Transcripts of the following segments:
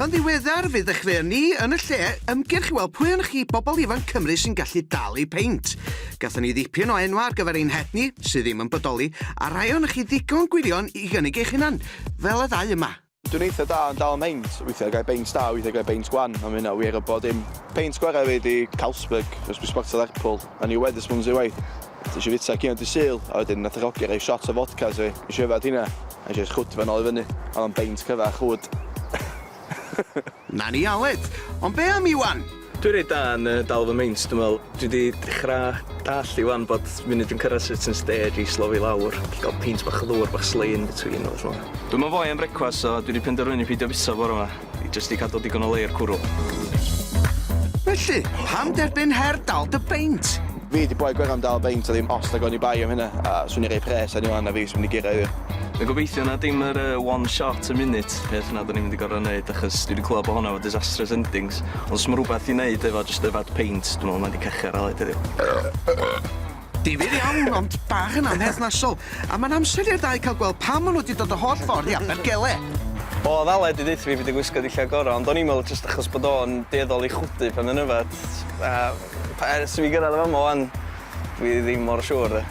Yn ddiweddar, fe ddechreuon ni yn y lle ymgyrch i weld pwy o'n chi bobl ifanc Cymru sy'n gallu dal eu peint. Gatho ni ddipyn o enwa ar gyfer ein het ni, sydd ddim yn bodoli, a rhai o'n chi ddigon gwirion i gynnig eich hunan, fel y ddau yma. Dwi'n eitha da yn dal mheint, weithiau gael beint da, weithiau gael beint gwan, ond mae hynna wir yn bod dim. Peint gorau fi ydi Carlsberg, os dwi'n sbotio Lerpwl. O'n i Wetherspoons ei waith. Ti eisiau fita cino dydd Sul? A wedyn nath y coggy roi shot o fodca ato fi. Nes i yfed hynna, a nes i jyst chwydu fo nôl i fyny. Oedd o'n beint cyfach, wd. Na ni Aled! Ond be am Iwan? Dwi reit da yn yy dal fy meint dwi me'wl. Dwi 'di dechra dallt Iwan bod munud dwi'n cyrradd certain stage i slofi lawr, gallu ga'l peint bach o ddŵr bach slei in between a beth fel 'a. Dwi'm yn foi am brecwast so dwi 'di penderfynu peidio fita bore 'ma. I jyst i cadw digon o le i'r cwrw. Felly, pam derbyn her dal dy beint? Fi di boi gweran dal beint a ddim os nag oni bai am hynna a swn i roi pres arni wan na fi sy'n mynd i guro i'r Dwi'n gobeithio na dim yr yy one shot a minute peth na dyn ni'n mynd i gor'o' neud achos dwi di clywed bo' hwnna efo disastrous endings ond os ma' rwbath i neud efo jyst yfad peint dwi me'wl ma' di cachu ar aled heddiw. Difyr iawn, ond bach yn amherthnasol. A mae'n amser i'r ddau cael gweld pam o'n nhw 'di dod y holl ffordd i Abergele. O'dd Aled 'di deutho fi peidio gwisgo dillad gora, ond o'n i'n meddwl jyst achos bod o'n dueddol i chwydu pan mae'n yfed. A pa- ers i fi gyrraedd y fama 'wan, dwi ddim mor siŵr 'de.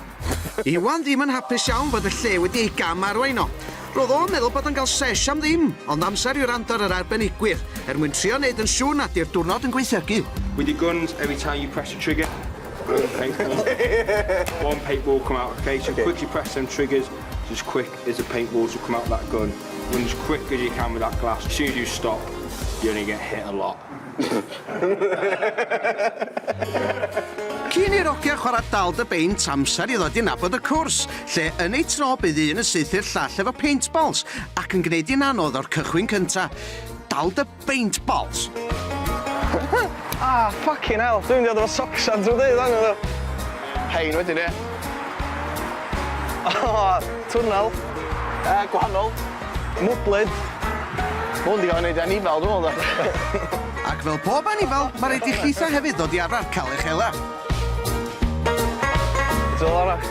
Iwan ddim yn hapus iawn bod y lle wedi ei gam-arwain o. Ro'dd o'n meddwl bod o'n gael sesh am ddim, ond amser i wrando ar yr arbenigwyr, er mwyn trio neud yn siŵr nad yw'r diwrnod yn gwaethygu. With your guns, every time you press the trigger, One paintball. One paintball come out, okay? So quickly press them triggers, it's as quick as a paintball to come out that gun. Run as quick as you can with that glass. As soon as you stop, you're gonna get hit a lot. Cyn i'r ogia chwarae dal dy beint amser i ddod i nabod y cwrs, lle yn ei tro bydd un yn saethu'r llall efo paintballs ac yn gwneud i'n anodd o'r cychwyn cynta. Dal dy Faint bols! Ah, ffycin hel, dwi'n mynd i fod efo socsian trwy ddeud angen nhw. Hein wedyn, ie. O, twnnel. E, gwahanol. Mwdlyd. Hwn di gael ei wneud anifal, dwi'n meddwl, dda. Ac fel pob anifal, mae rhaid i chitha hefyd ddod i arfer cael eich hela. Ti'n ôl arall?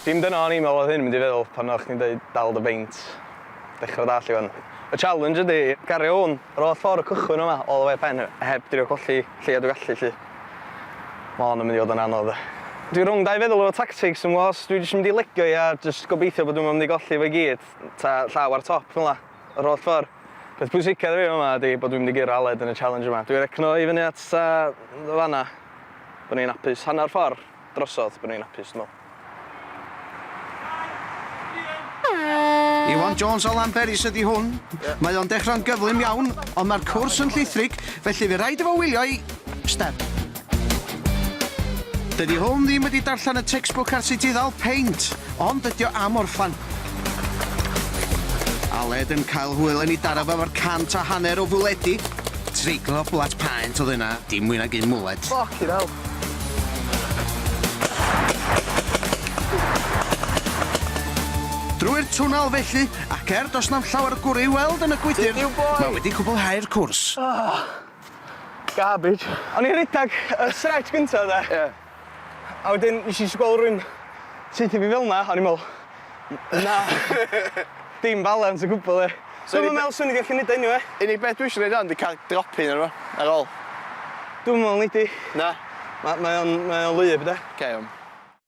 Dim dyna o'n i'n meddwl oedd hyn yn mynd i feddwl pan oeddech chdi'n deud dal dy beint. Dechrau dallt i 'wan. Y challenge ydi gario hwn yr holl ffordd o cychwyn yma all the way at pen heb drio colli lleia dwi gallu 'lly. Ma' hon yn mynd i fod yn anodd de. Dwi rhwng dau feddwl efo tactics dwi'm yn gwybod os dwi jyst yn mynd i legio hi a jyst gobeithio bod dwi'm yn mynd i golli fo i gyd ta llaw ar top fel'na yr holl ffordd. Peth pwysica 'da fi yn fama ydi bod dwi'n mynd i guro Aled yn y challenge yma. Dwi'n recno i fyny at ta fanna. Bo ni'n apus. Hanner ffor drosodd bo ni'n apus dwi me'wl. Iwan Jones o Lanberis ydi hwn. Mae o'n dechra'n gyflym iawn, ond mae'r cwrs yn llithrig, felly fe raid i fo wylio i... Step. Dydi hwn ddim wedi darllen y textbook ar sut i ddal peint, ond dydi o am orffan. Aled yn cael hwyl yn ei daraf efo'r cant a hanner o fwledi. Treiglo bwlet paent oedd yna, dim mwy nag un mwled. Ffycin hel! Drwy'r twnnel felly, ac er does na'm llawer o gwr i'w weld yn y gwydr, mae wedi cwblhau'r cwrs. Ah! Garbage. O'n i'n redag y stretch gynta 'de? Ie. A wedyn nesh i jys gwel' rywun saethu fi fel 'na a o'n i'n me'wl na dim balans o gwbwl ia. So o'n i'n me'wl swn i gallu neud o eniwe. Unig beth dwi isio neud ŵan 'di ca'l dropyn arno fo ar ôl. Dw'm yn me'wl nei di. Na? Ma' mae o'n mae o'n lwybr de? Oce iawn.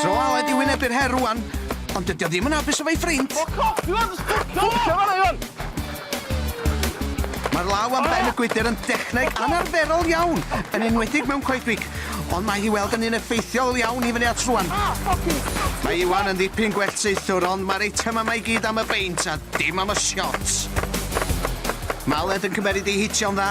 Tro Aled i wynebu'r her rwan, ond dydy o ddim yn hapus efo'i ffrind. O coffi wan, jyst bwcio fo! Bwcio fo Iwan! Mae'r law am ben y gwydr yn dechneg anarferol iawn, yn enwedig mewn coedwig, ond mae hi weld yn un effeithiol iawn i fyny at rwan. Mae Iwan yn ddipyn gwell teithwr, ond mae'r eitem yma i gyd am y beint a dim am y siorts. Mae Aled yn cymeryd ei hitio'n dda.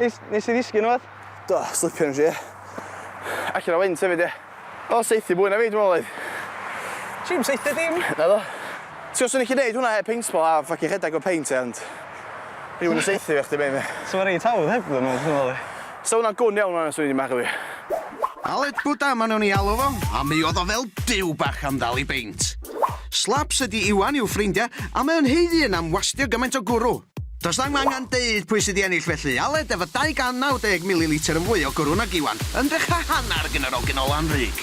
Neis, neis i ddisgyn oedd? Do, slipio nes i ie. Allan o wynt hefyd ie. O saethu mwy na fi dwi me'wl oedd. Ti'm saethu dim. Naddo. Ti'o' swn i'n gallu neud hwnna heb paintball a ffycin rhedag o paint ie ond rywun yn saethu fi chdi meindio? Sa fo'n reit hawdd heb ddyn nhw dwi'n me'wl ie. Sa hwnna'n gwn iawn wan swn i 'di marw fi. Aled Buddha ma nhw'n ei alw fo, a mi oedd o fel duw bach am ddal ei beint. Slaps ydi Iwan i'w ffrindia a mae o'n haeddu un am wastio gymaint o gwrw. Does dim angen deud pwy sy 'di ennill felly, Aled efo 290 mililitr yn fwy o gwrw nag Iwan, ymdrech â hanner gyn yr hogyn ola'n ddrug.